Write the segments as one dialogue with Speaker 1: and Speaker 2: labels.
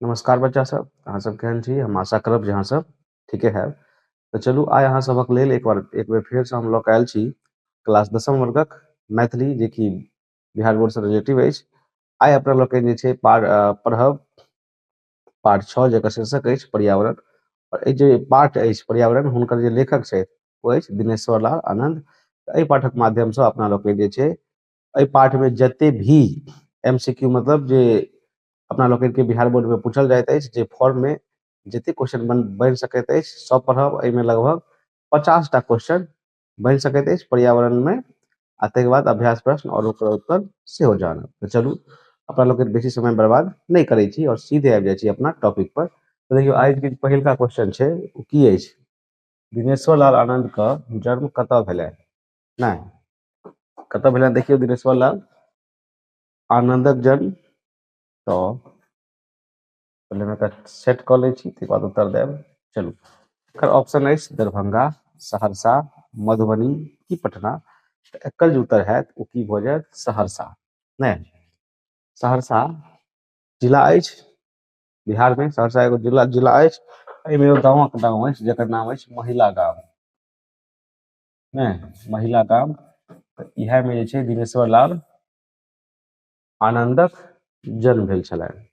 Speaker 1: नमस्कार बच्चा सब अहाँ सब केहन छी हम आशा करब जे अहाँ सब ठीके हैब तऽ चलू आइ अहाँ सभक लेल एक बार एक बेर फेरसँ हम लऽ कऽ आयल छी क्लास दसम वर्गक मैथिली जेकि बिहार बोर्डसँ रिलेटिव अछि आइ अपना लऽ कऽ जे छै पार पढ़ब पाठ छओ जकर शीर्षक अछि पर्यावरण आओर एहि जे पाठ अछि पर्यावरण हुनकर जे लेखक छथि ओ अछि दिनेश्वर लाल आनन्द एहि पाठक माध्यमसँ अपना लोकनि जे छै एहि पाठ में जते भी एमसीक्यू मतलब जे अपना लोकनि के बिहार बोर्ड में पूछल जाइत अछि जे फॉर्म में जते क्वेश्चन बन बनि सकैत अछि सब पढ़ब एहि में लगभग पचास टा क्वेश्चन बनि सकैत अछि पर्यावरण में आ ताहिके बाद अभ्यास प्रश्न और ओकर उत्तर सेहो जानब तऽ चलू अपना लोकनि बेसी समय बर्बाद नहि करै छी और सीधे आबि जाइ छी अपना टॉपिक पर तऽ देखियौ आइ के पहिलका क्वेश्चन छै ओ की अछि दिनेश्वर लाल आनंद के जन्म कतऽ भेलै नहि कतऽ भेलनि देखियौ दिनेश्वर लाल आनंदक जन्म तो पहिले हम सेट कऽ लै छी तकर बाद उत्तर देब चलू एकर ऑप्शन अछि दरभंगा सहरसा मधुबनी की पटना तऽ एकर जे उत्तर होयत ओ की भऽ जायत सहरसा नहि सहरसा जिला अछि बिहारमे सहरसा एगो जिला जिला अछि एहिमे एगो गाँवक नाम अछि जकर नाम अछि महिला गाम ने महिला का तऽ इएहमे जे छै दिनेश्वर लाल आनन्दक जन्म भेल छलनि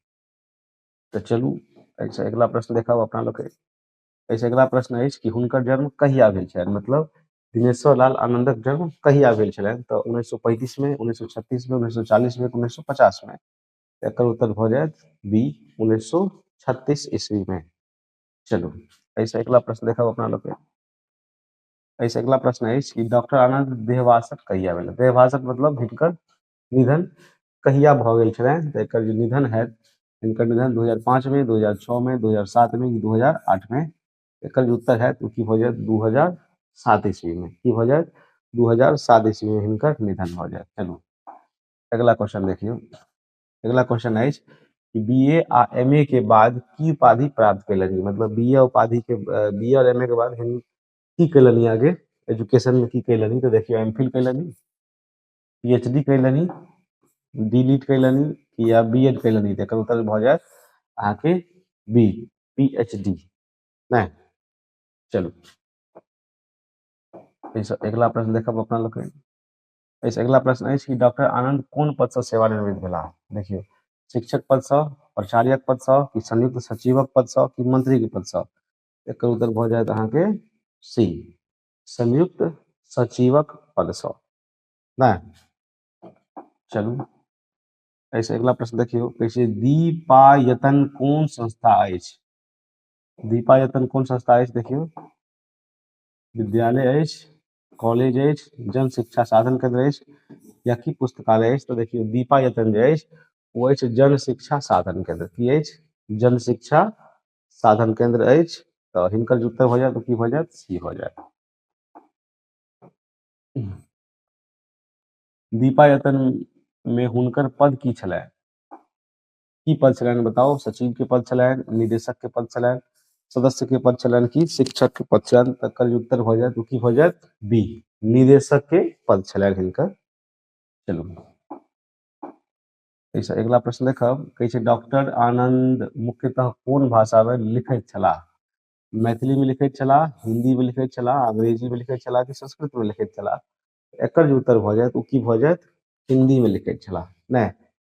Speaker 1: तऽ चलू एहिसँ अगिला प्रश्न देखाउ अपना लोकके एहिसँ अगिला प्रश्न अछि कि हुनकर जन्म कहिया भेल छलनि मतलब दिनेश्वर लाल आनन्दक जन्म कहिया भेल छलनि तऽ उन्नैस सए पैंतीसमे उन्नैस सए छत्तीसमे उन्नैस सए चालीसमे उन्नैस सए पचासमे एकर उत्तर भऽ जायत बी उन्नैस सए छत्तीस ईस्वीमे चलू एहिसँ अगिला प्रश्न देखाउ अपना लोकके एहिसँ अगिला प्रश्न अछि कि डॉक्टर आनन्द देहवासक कहिया भेल देहवासक मतलब हिनकर निधन कहिया भऽ गेल छलनि तऽ एकर जे निधन हएत हिनकर निधन दू हजार पाँचमे दू हजार छओमे दू हजार सातमे कि दू हजार आठमे एकर जे उत्तर हएत ओ की भऽ जायत दू हजार सात ईस्वीमे की भऽ जायत दू हजार सात ईस्वीमे हिनकर निधन भऽ जायत चलू अगिला क्वेश्चन देखियौ अगला क्वेश्चन अछि कि बीए आ एमए के बाद की उपाधि प्राप्त कयलनि मतलब बीए उपाधि के बीए और एमए के बाद हिन की कयलनि आगे एजुकेशन में की कयलनि तो देखियो एम फिल कयलनि पीएचडी कयलनि डी लिट कयलनि या बी एड कयलनि तो एकर उत्तर भऽ जायत अहाँके बी पीएचडी नहि चलू एहिसँ अगिला प्रश्न देखब अपना लोकनि एहिसँ अगिला प्रश्न अछि कि डॉक्टर आनन्द कोन पदसँ सेवानिवृत्त भेलाह देखियौ शिक्षक पदसँ प्राचार्यक पदसँ कि संयुक्त सचिवक पदसँ कि मंत्रीके पदसँ एकर उत्तर भऽ जायत अहाँके सी संयुक्त सचिवक पदसँ नहि चलू एहिसँ अगिला प्रश्न देखियौ कहै छै दीपायतन कोन संस्था अछि दीपायतन कोन संस्था अछि देखियौ विद्यालय अछि कॉलेज अछि जन शिक्षा साधन केन्द्र अछि या की पुस्तकालय अछि तऽ देखियौ दीपा यतन जे अछि ओ अछि जन शिक्षा साधन केन्द्र की अछि जन शिक्षा साधन केन्द्र अछि तऽ हिनकर जे उत्तर भऽ जायत की भऽ जायत सी भऽ जायत दीपा यतन मे हुनकर पद की छलनि की पद छलनि बताओ सचिव के पद छलनि निदेशक के पद छलनि सदस्य के पद छलनि की शिक्षक के पद छलनि तकर जे उत्तर भऽ जायत ओ की भऽ जायत बी निदेशक के पद छलनि हिनकर चलू एहिसँ अगिला प्रश्न देखब कहै छै डॉक्टर आनंद मुख्यतः कोन भाषामे लिखैत छलाह मैथिलीमे लिखैत छलाह हिन्दीमे लिखैत छलाह अंग्रेजीमे लिखैत छलाह कि संस्कृतमे लिखैत छलाह एकर जे उत्तर भऽ जायत ओ की भऽ जायत हिन्दीमे लिखैत छलाह नहि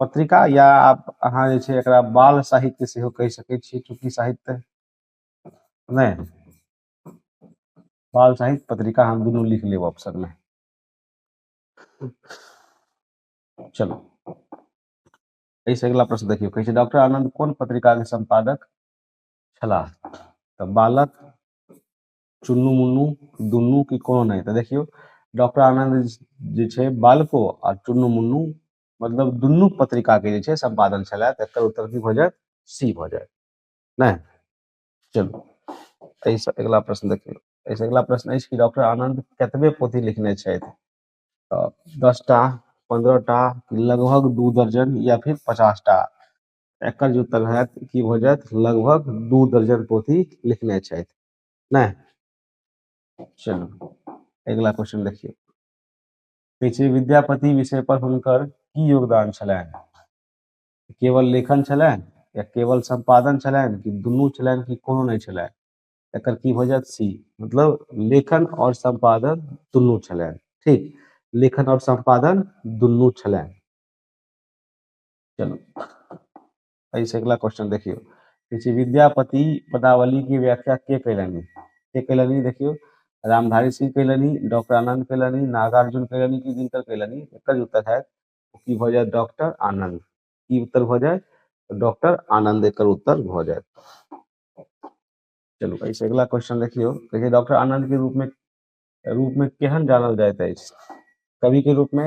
Speaker 1: पत्रिका या आप अहाँ जे छै एकरा बाल साहित्य सेहो कहि सकै छी चूँकि साहित्य नहि बाल साहित्य पत्रिका हम दुनू लिख लेब ऑप्शन में चलो एहिसँ अगिला प्रश्न देखियौ कहै छै डॉक्टर आनंद कोन पत्रिका के संपादक छलाह तऽ बालक चुन्नू मुन्नू दुनू की कोनो नहि तऽ देखियौ डॉक्टर आनंद जे छै बालको आ चुन्नू मुन्नू मतलब दुनू पत्रिका के जे छै संपादन छलाए तऽ एकर उत्तर की भऽ जायत सी भऽ जायत नहि चलू एहिसँ अगिला प्रश्न देखियौ एहिसँ अगिला प्रश्न अछि कि डॉक्टर आनंद कतबे पोथी लिखने छथि तऽ दस टा पंद्रह टा लगभग दू दर्जन या फिर पचास टा एकर जे उत्तर होयत की भऽ जायत लगभग दू दर्जन पोथी लिखने छथि नहि चलू अगिला क्वेश्चन देखियौ कहै छै विद्यापति विषय पर हुनकर की योगदान छलनि केवल लेखन छलनि या केवल संपादन छलनि कि दुनू छलनि कि कोनो नहि छलनि एकर की भऽ जायत सी मतलब लेखन और संपादन दुनू छलनि ठीक लेखन और संपादन दुनू छलनि चलू एहि से अगला क्वेश्चन देखियो कहै छै विद्यापति पदावली के व्याख्या के कैलनि के कैलनि देखियो रामधारी सिंह कैलनि डॉक्टर आनंद कैलनि नागार्जुन कैलनि कि जिनकर कैलनि एकर जे उत्तर है की भऽ जायत डॉक्टर आनंद की उत्तर भऽ जायत डॉक्टर आनंद एकर उत्तर भऽ जायत चलू एहि से अगला क्वेश्चन देखियो कहै छै डॉक्टर आनंद के रूप में रूप में केहन जानल जाइत अछि कवि के रूप में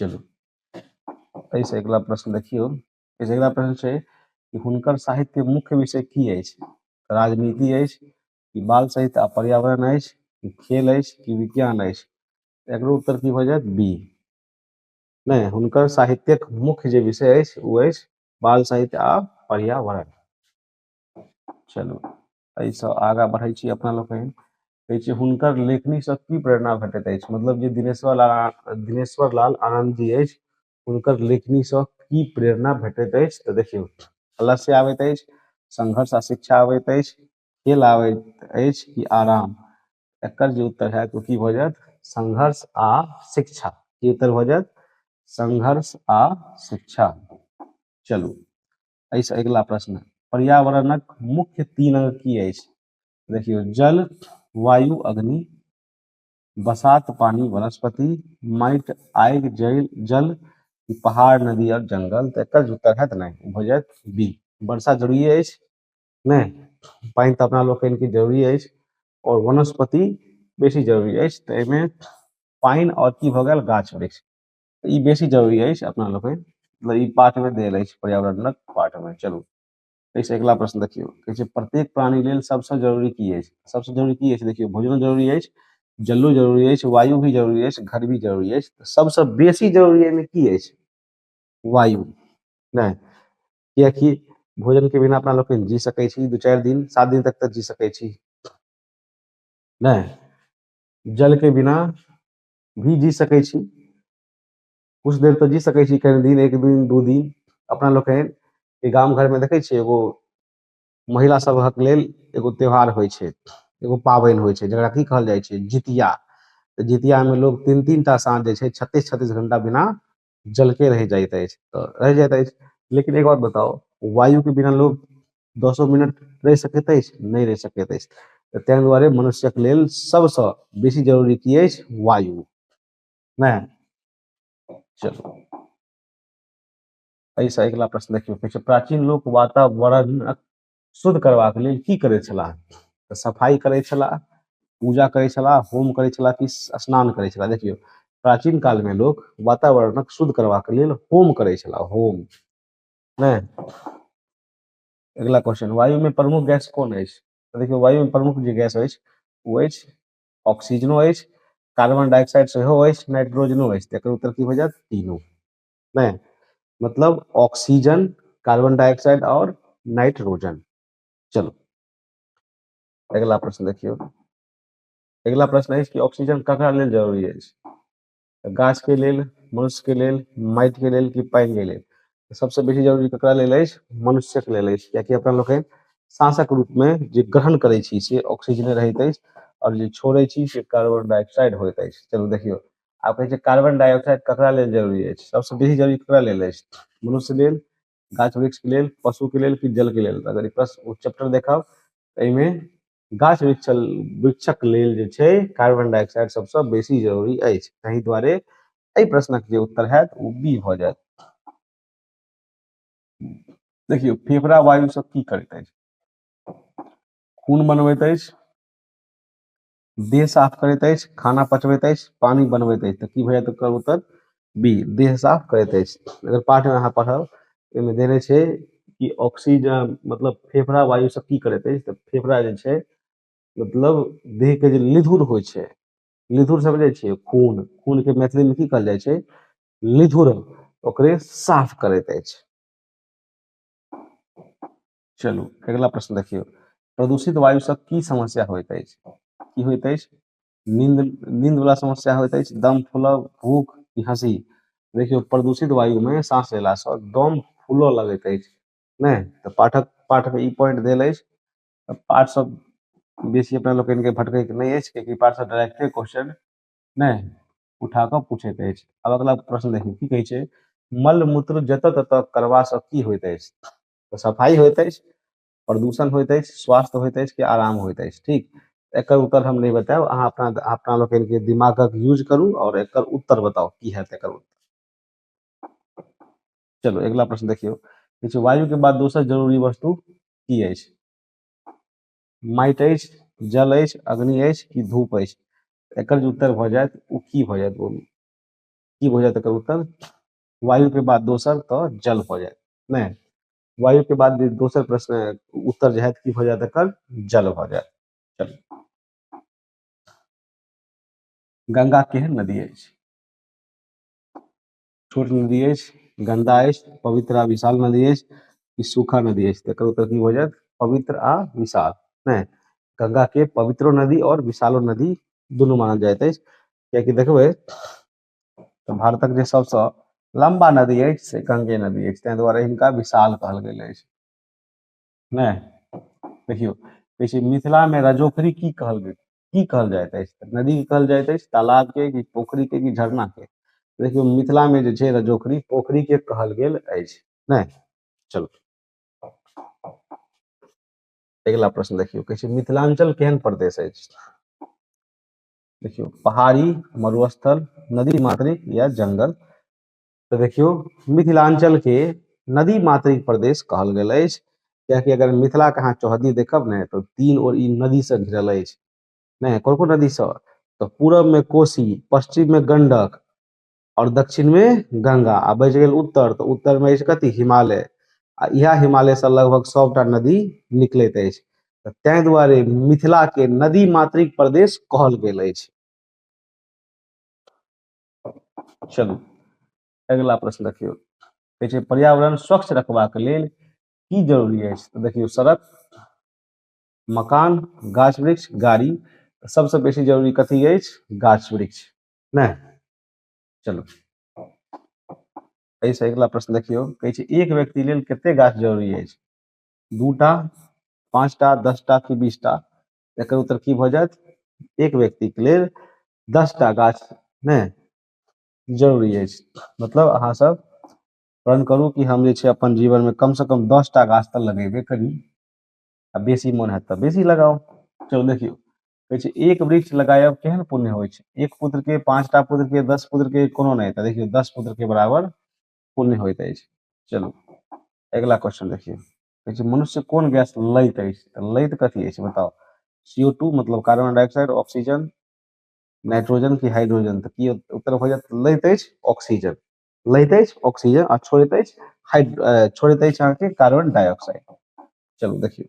Speaker 1: चलू एहिसँ अगिला प्रश्न देखियौ एहिसँ अगिला प्रश्न छै कि हुनकर साहित्य मुख्य विषय की अछि राजनीति अछि कि बाल साहित्य आ पर्यावरण अछि कि खेल अछि कि विज्ञान अछि एकरो उत्तर की भऽ जायत बी नहि हुनकर साहित्यक मुख्य जे विषय अछि ओ अछि बाल साहित्य आ पर्यावरण चलू एहिसँ आगाँ बढ़ै छी अपना लोकनि कहै छी हुनकर लेखनीसँ की प्रेरणा भेटैत अछि मतलब जे दिनेश्वर लाल दिनेश्वर लाल आनन्द जी अछि हुनकर लेखनीसँ की प्रेरणा भेटैत अछि तऽ देखियौ अलस्य आबैत अछि संघर्ष आ शिक्षा आबैत अछि खेल आबैत अछि कि आराम एकर जे उत्तर होयत ओ की भऽ जायत संघर्ष आ शिक्षा की उत्तर भऽ जायत संघर्ष आ शिक्षा चलू एहिसँ अगिला प्रश्न पर्यावरणक मुख्य तीन अंग की अछि देखियौ जल वायु अग्नि बसात पानी वनस्पति माटि आगि जल जल पहाड़ नदी और जंगल तऽ एकर उत्तर हैत नहि भऽ जायत बी वर्षा जरूरी अछि नहि पानि तऽ अपना लोकनि के जरूरी अछि और वनस्पति बेसी जरूरी अछि तऽ एहिमे पानि और की भऽ गेल गाछ वृक्ष ई बेसी जरूरी अछि अपना लोकनि मतलब ई पाठमे देल अछि पर्यावरणक पाठमे चलू एहिसँ अगिला प्रश्न देखियौ कहै छै प्रत्येक प्राणी लेल सभसँ जरूरी की अछि सभसँ जरूरी की अछि देखियौ भोजनो जरूरी अछि जलो जरूरी अछि वायु भी जरूरी अछि घर भी जरूरी अछि तऽ सभसँ बेसी जरूरी एहिमे की अछि वायु नहि कियकि भोजनके बिना अपना लोकनि जी सकै छी दू चारि दिन सात दिन तक तऽ जी सकै छी नहि जलके बिना भी जी सकै छी कुछ देर तऽ जी सकै छी कनि दिन एक दिन दू दिन अपना लोकनि ई गाम घरमे देखै छियै एगो महिला सभक लेल एगो त्यौहार होइ छै एगो पाबनि होइ छै जकरा की कहल जाइ छै जितिया तऽ जितियामे लोक तीन तीन टा साँझ जे छै छत्तीस छत्तीस घंटा बिना जल के रह जाइत अछि त रह जाइत अछि लेकिन एक बात बताउ वायु के बिना लोग दसो मिनट रह सकैत अछि नहि रह सकैत अछि त ताहि दुआरे मनुष्य के लेल सब स बेसी जरूरी की अछि वायु ने चलू एहिसँ अगिला प्रश्न देखियौ कहै छै प्राचीन लोक वातावरणक शुद्ध करबाक लेल की करै छलाह तऽ सफाइ करै छलाह पूजा करै छलाह होम करै छलाह कि स्नान करै छलाह देखियौ प्राचीन कालमे लोक वातावरणक शुद्ध करबाक लेल होम करै छलाह होम नहि अगिला क्वेश्चन वायुमे प्रमुख गैस कोन अछि तऽ देखियौ वायुमे प्रमुख जे गैस अछि ओ अछि ऑक्सीजनो अछि कार्बन डाइऑक्साइड सेहो अछि नाइट्रोजनो अछि तकर उत्तर की भऽ जायत तीनू नै मतलब ऑक्सीजन कार्बन डाइऑक्साइड और नाइट्रोजन चलो अगला प्रश्न देखियो अगला प्रश्न अछि कि ऑक्सीजन ककरा लेल जरूरी अछि गाछ के लेल मनुष्य के लेल माटि के लेल कि पानि के लेल सबसे बेसी जरूरी ककरा लेल अछि मनुष्य के लेल अछि कियाकि अपना लोकनि सांसक रूप में जे ग्रहण करै छी से ऑक्सीजने रहैत अछि और जे छोड़े छी से कार्बन डाइऑक्साइड होइत अछि चलू देखियौ आब कहै छै कार्बन डाइऑक्साइड ककरा लेल जरूरी अछि सबसँ बेसी जरूरी ककरा लेल अछि मनुष्य लेल गाछ वृक्षके लेल पशुके लेल कि जलके लेल अगर ई प्रश्न ओ चैप्टर देखब एहिमे गाछ वृक्ष वृक्षक लेल जे छै कार्बन डाइऑक्साइड सबसँ बेसी जरूरी अछि ताहि दुआरे एहि प्रश्नक जे उत्तर हैत ओ बी भऽ जायत देखियौ फेफड़ा वायु सब की करैत अछि खून बनबैत अछि देह साफ करैत अछि खाना पचबैत अछि पानि बनबैत अछि तऽ की होइए तऽ ओकर उत्तर बी देह साफ करैत अछि अगर पाठमे अहाँ पढ़ब ओहिमे देने छै कि ऑक्सीजन मतलब फेफड़ा वायुसँ की करैत अछि तऽ फेफड़ा जे छै मतलब देहके जे निधुर होइ छै निधुर समझै छियै खून खूनके मैथिलीमे की कहल जाइ छै निधुर ओकरे साफ करैत अछि चलू अगिला प्रश्न देखियौ प्रदूषित वायु से की समस्या होइत अछि की होइत अछि नींद नींद वाला समस्या होइत अछि दम फूलब भूख की हंसी देखियौ प्रदूषित वायु में सांस लेला से दम फूलऽ लगैत अछि नहि तऽ पाठक पाठ में ई पॉइंट देल अछि तऽ पाठ सब बेसी अपना लोकनि के भटकै के नहि अछि कियाकि पाठ से डायरेक्टे क्वेश्चन नहि उठा कऽ पूछैत अछि आब अगिला प्रश्न देखियौ की कहै छै मल मूत्र जतऽ ततऽ करबा से की होइत अछि तऽ सफाइ होइत अछि प्रदूषण होइत अछि स्वास्थ्य होइत अछि कि आराम होइत अछि ठीक एकर उत्तर हम नहि बतायब अहाँ अपना अपना लोकनिके दिमागक यूज करू आओर एकर उत्तर बताउ की हैत एकर उत्तर चलू अगिला प्रश्न देखियौ किछु छै वायुके बाद दोसर जरूरी वस्तु की अछि माटि अछि जल अछि अग्नि अछि कि धूप अछि एकर जे उत्तर भऽ जायत ओ की भऽ जायत ओ की भऽ जायत एकर उत्तर वायु के बाद दोसर तऽ जल भऽ जायत नहि वायु के बाद जे दोसर प्रश्न उत्तर जे हैत की भऽ जायत एकर जल भऽ जायत चलू गंगा केहन नदी अछि छोट नदी अछि गंदा अछि पवित्र आ विशाल नदी अछि कि सूखा नदी अछि तकर उत्तर की भऽ जायत पवित्र आ विशाल नहि गंगा के पवित्रो नदी और विशालो नदी दुनू मानल जाइत अछि कियाकि देखबै तऽ भारतक जे सबसँ लम्बा नदी अछि से गंगे नदी अछि ताहि दुआरे हिनका विशाल कहल गेल अछि नहि देखियौ कहै छै मिथिलामे रजोखरी की कहल गेल की कहल जाइत अछि तऽ नदी की कहल जाइत अछि तालाबके कि पोखरिके कि झरनाके देखियौ मिथिलामे जे छै रजोखरी पोखरिके कहल गेल अछि नहि चलू अगिला प्रश्न देखियौ कहै छै मिथिलाञ्चल केहन प्रदेश अछि देखियो पहाड़ी मरुस्थल नदी मातृक या जंगल तो देखियो मिथिलांचल के नदी मातृक प्रदेश कहल गेल अछि कियाकि अगर मिथिला के अहाँ चौहदी देखब ने तो तीन ओर ई नदी से घिरल अछि ने कोन कोन नदी से तो पूरब में कोसी पश्चिम में गंडक और दक्षिण में गंगा आ बच गेल उत्तर त उत्तर में ऐछ कथी हिमालय आ इहा हिमालय से लगभग सबटा नदी निकलत ऐछ त तै दुआरे मिथिला के नदी मात्रिक प्रदेश कहल गेल ऐछ चलू अगिला प्रश्न देखियौ कहै छै पर्यावरण स्वच्छ रखबाक लेल की जरूरी ऐछ त देखियौ सड़क मकान गाछ वृक्ष गाड़ी सबसे बेसी जरूरी कथी ऐछ गाछ वृक्ष ने चलो एहिसँ अगिला प्रश्न देखियौ कहै छै एक व्यक्ति लेल कते गाछ जरूरी अछि दूटा पाँचटा दसटा कि बीसटा एकर उत्तर की भऽ जायत एक व्यक्तिके लेल दसटा गाछ ने जरूरी अछि मतलब अहाँ सब प्रण करू कि हम जे छै अपन जीवनमे कमसँ कम दसटा गाछ तऽ लगेबे करी आ बेसी मोन हैत तऽ बेसी लगाउ चलू देखियौ कहै छै एक वृक्ष लगायब केहन पुण्य होइ छै एक पुत्र के पांचटा पुत्र के दस पुत्र के कोनो नहि तऽ देखियौ दस पुत्र के बराबर पुण्य होइत अछि चलू अगिला क्वेश्चन देखियौ कहै छै मनुष्य कोन गैस लैत अछि तऽ लैत कथी अछि बताओ सीओ टू मतलब कार्बन डाइऑक्साइड ऑक्सीजन नाइट्रोजन की हाइड्रोजन तऽ की उत्तर हो जायत लैत अछि ऑक्सीजन लैत अछि ऑक्सीजन आ छोड़ैत अछि हाइड्रो छोड़ैत अछि अहाँके कार्बन डाइऑक्साइड चलू देखियौ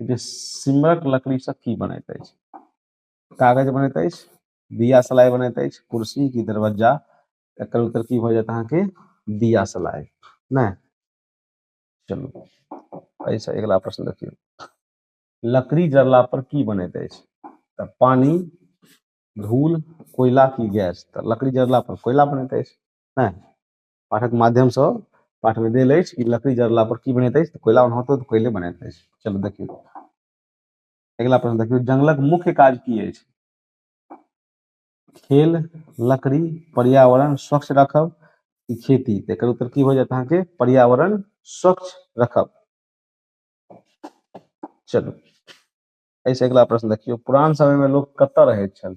Speaker 1: जे सिमरक लकड़ीसँ की बनैत अछि कागज बनैत अछि दिया सलाइ बनैत अछि कुर्सी की दरवाजा एकर उत्तर की भऽ जायत अहाँके दिया सलाइ नहि चलू एहिसँ अगिला प्रश्न देखियौ लकड़ी जरला पर की बनैत अछि तऽ पानी धूल कोयला की गैस तऽ लकड़ी जरला पर कोयला बनैत अछि नहि पाठक माध्यम से पाठ में देल अछि कि लकड़ी जरला पर की बनैत अछि कोयला ओनाहितो तऽ कोयले बनैत अछि चलू देखियौ अगिला प्रश्न देखियौ जंगलक मुख्य काज की अछि खेल लकड़ी पर्यावरण स्वच्छ रखब कि खेती तऽ एकर उत्तर की हो जायत अहाँके पर्यावरण स्वच्छ रखब चलू एहिसँ अगिला प्रश्न देखियौ पुरान समयमे लोक कतऽ रहैत छल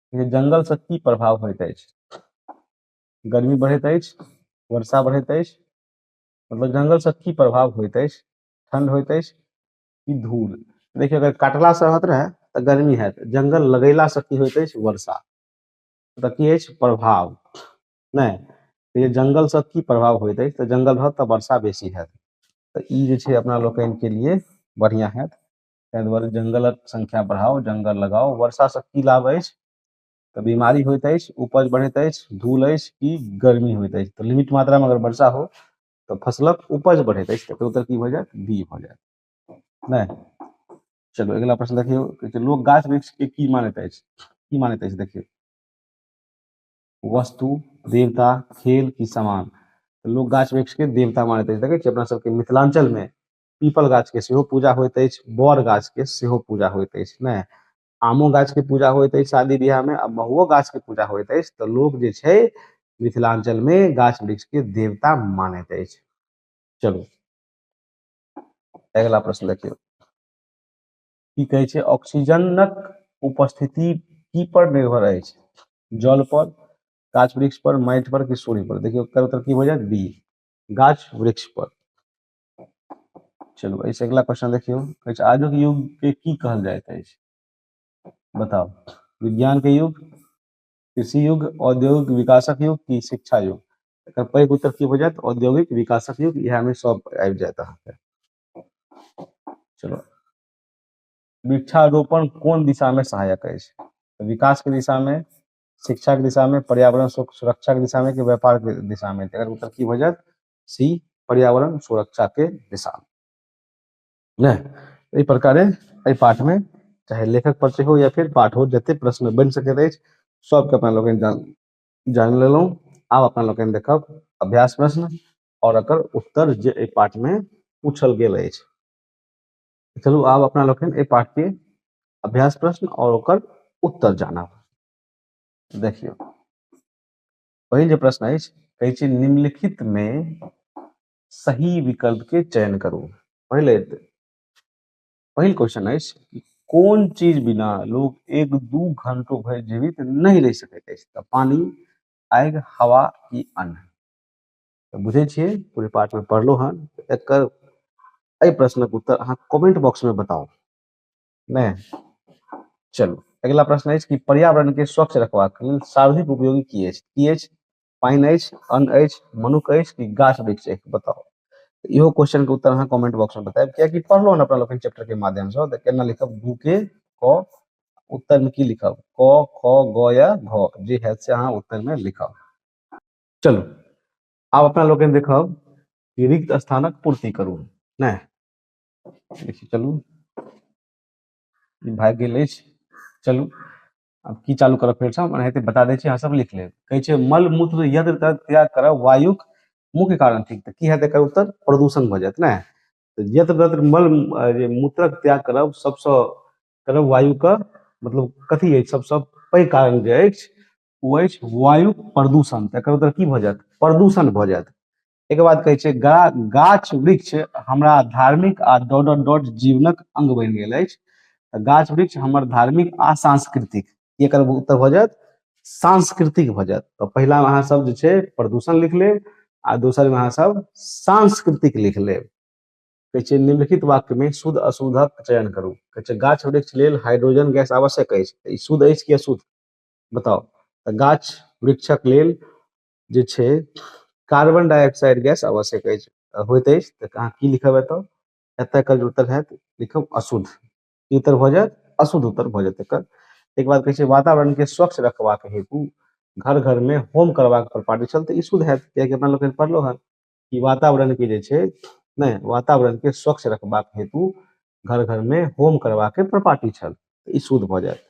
Speaker 1: जे जंगल से की प्रभाव होइत अछि गर्मी बढ़ैत अछि वर्षा बढ़ैत अछि मतलब जंगल से की प्रभाव होइत अछि ठंड होइत अछि कि धूल देखियौ अगर काटला से होत रहे तऽ गर्मी है जंगल लगेला से की होइत अछि वर्षा तऽ की अछि प्रभाव नहि तऽ जंगल से की प्रभाव होइत अछि तऽ जंगल रहत तऽ वर्षा बेसी हैत तऽ ई जे छै अपना लोकनि के लिए बढ़िया हैत ताहि दुआरे जंगलक संख्या बढ़ाओ जंगल लगाओ वर्षा से की लाभ अछि तऽ बीमारी होइत अछि उपज बढ़ैत अछि धूल अछि कि गर्मी होइत अछि तऽ लिमिट मात्रा में अगर वर्षा हो तऽ फसलक उपज बढ़ैत अछि तकर उत्तर की भऽ जायत बी भऽ जायत नहि चलू अगिला प्रश्न देखियौ कहै छै लोक गाछ वृक्ष के की मानैत अछि की मानैत अछि देखियौ वस्तु देवता खेल की समान तऽ लोक गाछ वृक्ष के देवता मानैत अछि देखै छियै अपना सबके मिथिलांचल में पीपल गाछ के सेहो पूजा होइत अछि बड़ गाछ के सेहो पूजा होइत अछि ने आमो गाछ के पूजा होइत अछि शादी ब्याह में आ महुओ गाछ के पूजा होइत अछि तऽ लोक जे छै मिथिलांचल में गाछ वृक्ष के देवता मानैत अछि चलू अगिला प्रश्न देखियौ की कहै छै ऑक्सीजनक उपस्थिति की पर निर्भर अछि जल पर गाछ वृक्ष पर माटि पर कि सूर्य पर देखियौ उत्तर उत्तर की हो जायत बी गाछ वृक्ष पर चलू एहिसँ अगिला क्वेश्चन देखियौ कहै छै आजुक युगके की कहल जाइत अछि बताउ विज्ञानके युग कृषि युग औद्योगिक विकासक युग की शिक्षा युग एकर पैघ उत्तर की हो जायत औद्योगिक विकासक युग इएहमे सब आबि जायत अहाँके चलो वृक्षारोपण कोन दिशा में सहायक है तो विकास के दिशा में शिक्षा के दिशा में पर्यावरण सुरक्षा के दिशा में कि व्यापार के दिशा में अगर उत्तर की हो जाए सी पर्यावरण सुरक्षा के दिशा ने एहि प्रकारे एहि पाठ में चाहे लेखक पर हो या फिर पाठ हो जते प्रश्न बन सकैत अछि सबके अपना लोग जान जान लेलहुँ आब अपना लोग देखब अभ्यास प्रश्न और अकर उत्तर जे एहि पाठ में पूछल गेल अछि चलू आब अपना लोग एहि पाठ के अभ्यास प्रश्न और ओकर उत्तर जानब देखियौ पहिल जे प्रश्न अछि कहै छै निम्नलिखित मे सही विकल्प के चयन करू पहिले पहिल क्वेश्चन अछि कोन चीज बिना लोग एक दू घंटो भरि जीवित नहि रहि सकैत अछि तऽ पानी आगि हवा की अन्न तऽ बुझै छियै पूरे पाठ में पढ़लहुँ हन एकर एहि प्रश्नक उत्तर अहाँ कमेंट बॉक्स में बताउ ने चलू अगिला प्रश्न अछि कि पर्यावरण के स्वच्छ रखबाक लेल सार्वधिक उपयोगी की अछि की अछि पानि अछि अन्न अछि मनुख अछि कि गाछ वृक्ष अछि बताओ इहो क्वेश्चन के उत्तर अहाँ कमेंट बॉक्स में बताएब कियाकि पढ़लो ने अपना लोकनि चैप्टर के माध्यम से तऽ केना लिखब गु के क उत्तर में की लिखब क ख ग या घ जे है से अहाँ उत्तर में लिखब चलू आब अपना लोकनि देखब कि रिक्त स्थानक पूर्ति करू नहि देखिए चलू ई भागि गेल अछि चलू आब की चालू करब फेरसँ हम एनाहिते बता दै छी अहाँ सब लिख लेब कहै छै मल मूत्र यत्र तत्र त्याग करब वायुक मुख्य कारण थिक तऽ की हेतै एकर उत्तर प्रदूषण भऽ जायत ने तऽ यत्र तत्र मल अ, जे मूत्रक त्याग करब सबसँ करब वायुके मतलब कथी अछि सबसँ पैघ कारण जे अछि ओ अछि वायु प्रदूषण तऽ एकर उत्तर की भऽ जायत प्रदूषण भऽ जायत एकर बाद कहै छै गा गाछ वृक्ष हमरा धार्मिक आ डॉट डॉट डॉट जीवनक अंग बनि गेल अछि तऽ गाछ वृक्ष हमर धार्मिक आ सांस्कृतिक ई एकर उत्तर भऽ जायत सांस्कृतिक भऽ जायत तऽ पहिला मे अहाँ सब जे छै प्रदूषण लिख लेब आ दोसर मे अहाँ सब सांस्कृतिक लिख लेब कहै छै निम्नलिखित वाक्य मे शुद्ध अशुद्धक चयन करू कहै छै गाछ वृक्ष लेल हाइड्रोजन गैस आवश्यक अछि तऽ ई शुद्ध अछि कि अशुद्ध बताउ तऽ गाछ वृक्षक लेल जे छै कार्बन डाइऑक्साइड गैस आवश्यक अछि होइत अछि तऽ अहाँ की लिखब एतऽ एतऽ एकर जे उत्तर हैत लिखब अशुद्ध की उत्तर भऽ जायत अशुद्ध उत्तर भऽ जायत एकर ताहिके बाद कहै छै वातावरणके स्वच्छ रखबाक हेतु घर घरमे होम करबाक प्रपाटी छल तऽ ई शुद्ध हैत कियाकि अपना लोकनि पढ़लहुँ हँ कि वातावरणके जे छै नहि वातावरणके स्वच्छ रखबाक हेतु घर घरमे होम करबाके प्रपाटी छल तऽ ई शुद्ध भऽ जायत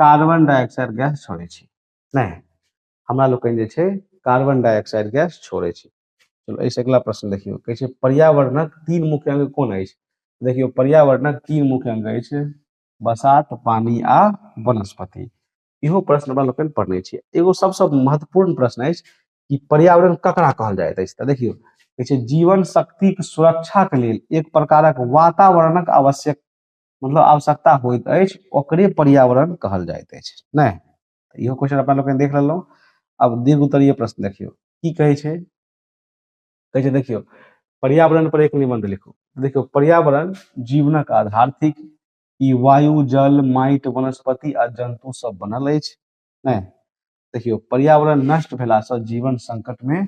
Speaker 1: कार्बन डाइऑक्साइड गैस छोड़ै छी नहि हमरा लोकनि जे छै कार्बन डाइऑक्साइड गैस छोड़ै छी चलो एहिसँ अगिला प्रश्न देखियौ कहै छै पर्यावरणक तीन मुख्य अंग कोन अछि देखियौ पर्यावरणक तीन मुख्य अंग अछि बसात पानी आ वनस्पति इहो प्रश्न हमरा लोकनि पढ़ने छियै एगो सबसँ महत्वपूर्ण प्रश्न अछि कि पर्यावरण ककरा कहल जाइत अछि तऽ देखियौ कहै छै जीवन शक्तिक सुरक्षाक लेल एक प्रकारक वातावरणक आवश्यक मतलब आवश्यकता होइत अछि ओकरे पर्यावरण कहल जाइत अछि नहि तऽ इहो क्वेश्चन अपना लोकनि देख लेलहुँ आब दीर्घ उत्तरीय प्रश्न देखियौ की कहै छै कहै छै देखियौ पर्यावरण पर एक निबंध लिखू देखियौ पर्यावरण जीवनक आधार थिक ई वायु जल माटि वनस्पति आ जंतु सब बनल अछि नहि देखियौ पर्यावरण नष्ट भेलासँ जीवन संकटमे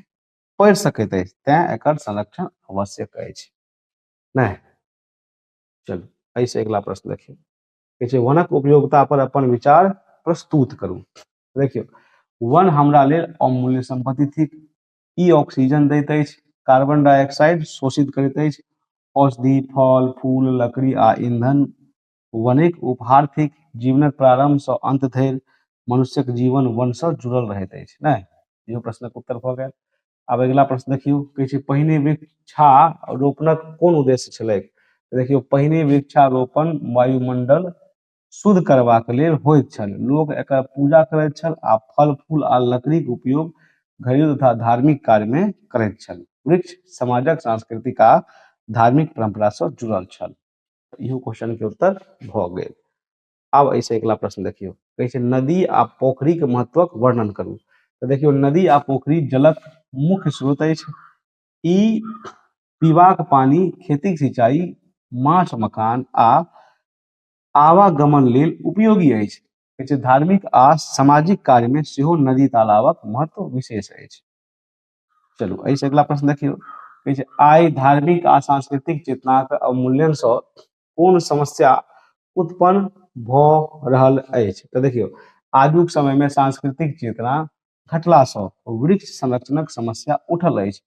Speaker 1: पढ़ि सकैत अछि तैं एकर संरक्षण आवश्यक अछि नहि चलू एहिसँ अगिला प्रश्न देखियौ कहै छै वनक उपयोगिता पर अपन विचार प्रस्तुत करू देखियौ वन हमरा लेल अमूल्य संपत्ति थिक ई ऑक्सीजन दैत अछि कार्बन डाइऑक्साइड शोषित करैत अछि औषधि फल फूल लकड़ी आ ईंधन वनेक उपहार थिक जीवनक प्रारंभसँ अंत धरि मनुष्यक जीवन वनसँ जुड़ल रहैत अछि नहि इहो प्रश्नक उत्तर भऽ गेल आब अगिला प्रश्न देखियौ कहै छै पहिने वृक्षा रोपणक कोन उद्देश्य छलै देखियौ पहिने वृक्षारोपण वायुमंडल शुद्ध करबाक लेल होइत छल लोक एकर पूजा करैत छल आ फल फूल आ लकड़ीक उपयोग घरेलू तथा धार्मिक कार्यमे करैत छल वृक्ष समाजक सांस्कृतिक आ धार्मिक परम्परासँ जुड़ल छल इहो क्वेश्चनके उत्तर भऽ गेल आब एहिसँ अगिला प्रश्न देखियौ कहै छै नदी आ पोखरिक महत्वक वर्णन करू तऽ देखियौ नदी आ पोखरि जलक मुख्य स्रोत अछि ई पीबाक पानि खेतीक सिंचाइ माछ मकान आ आवागमन लेल उपयोगी अछि कहै छै धार्मिक आ सामाजिक कार्यमे सेहो नदी तालाबक महत्व विशेष अछि चलू एहिसँ अगिला प्रश्न देखियौ कहै छै आइ धार्मिक आ सांस्कृतिक चेतनाक अवमूल्यनसँ कोन समस्या उत्पन्न भऽ रहल अछि तऽ देखियौ आजुक समयमे सांस्कृतिक चेतना घटलासँ वृक्ष संरक्षणक समस्या उठल अछि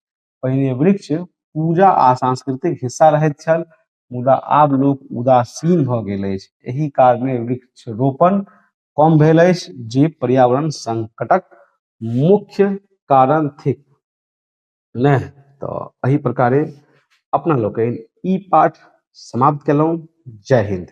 Speaker 1: पहिने वृक्ष पूजा आ सांस्कृतिक हिस्सा रहैत छल मुदा आब लोक उदासीन भऽ गेल अछि एहि कारणे वृक्ष रोपण कम भेल अछि जे पर्यावरण संकटक मुख्य कारण थिक नहि तऽ एहि प्रकारे अपना लोकनि ई पाठ समाप्त केलहुँ जय हिन्द